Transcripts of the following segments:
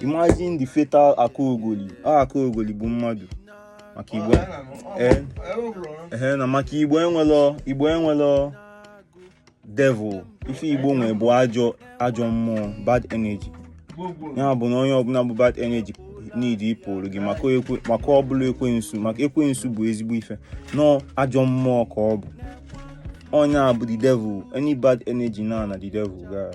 imagine the fatal akaogoli ọ akaogoli bụ mmadụ maka igbo eh, eh, na maka igbo enwelọ igbo enwelọ devil ife igbo nwere bụ ajọ ajọ mmụọ bad energy ya bụ na onye ọbụla bụ bad energy need ịpụrụ gị maka ọ bụlọ ekwensu maka ekwensu bụ ezigbo ife no ajọ mmụọ ka ọ bụ onye a bụ the devil any bad energy na na the devil gara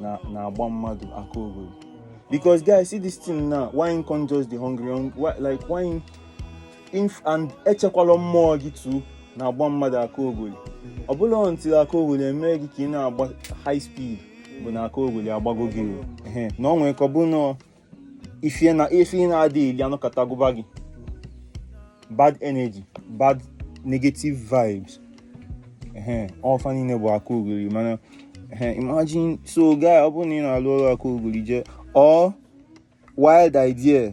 na na-agba mmadụ akaogoli because guys see this thing now why him come just dey hungry hung- why, like why him inf and echekwala mmụọ gị too na-agba mmadụ akaogoli ọ bụlọ until akaogoli emee gị ka ị na-agba high speed bụ na akaogoli agbago gị o. Ehe, na ọ nwere ka ọ bụ na ife na ife ị na-adịghị eli anọkata gụba gị bad energy bad negative vibes ehe ọ fa niile bụ akaogoli mana ehe imagine so guy ọ bụrụ na ị na-alụ ọrụ akaogoli jee or wild idea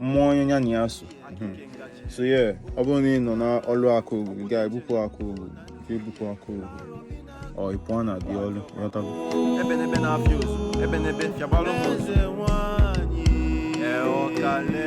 mmụọ onye ya na ya so hmm. so yeah ọ bụrụ na ị nọ n'ọlụ akaogoli ga-ebupụ akaogoli ebupụ akaogoli ọ ị pụọ na the ọlụ ghọtago ebe n'ebe na-afịa ozu ebe n'ebe fịabalụ m ozu ee ọkale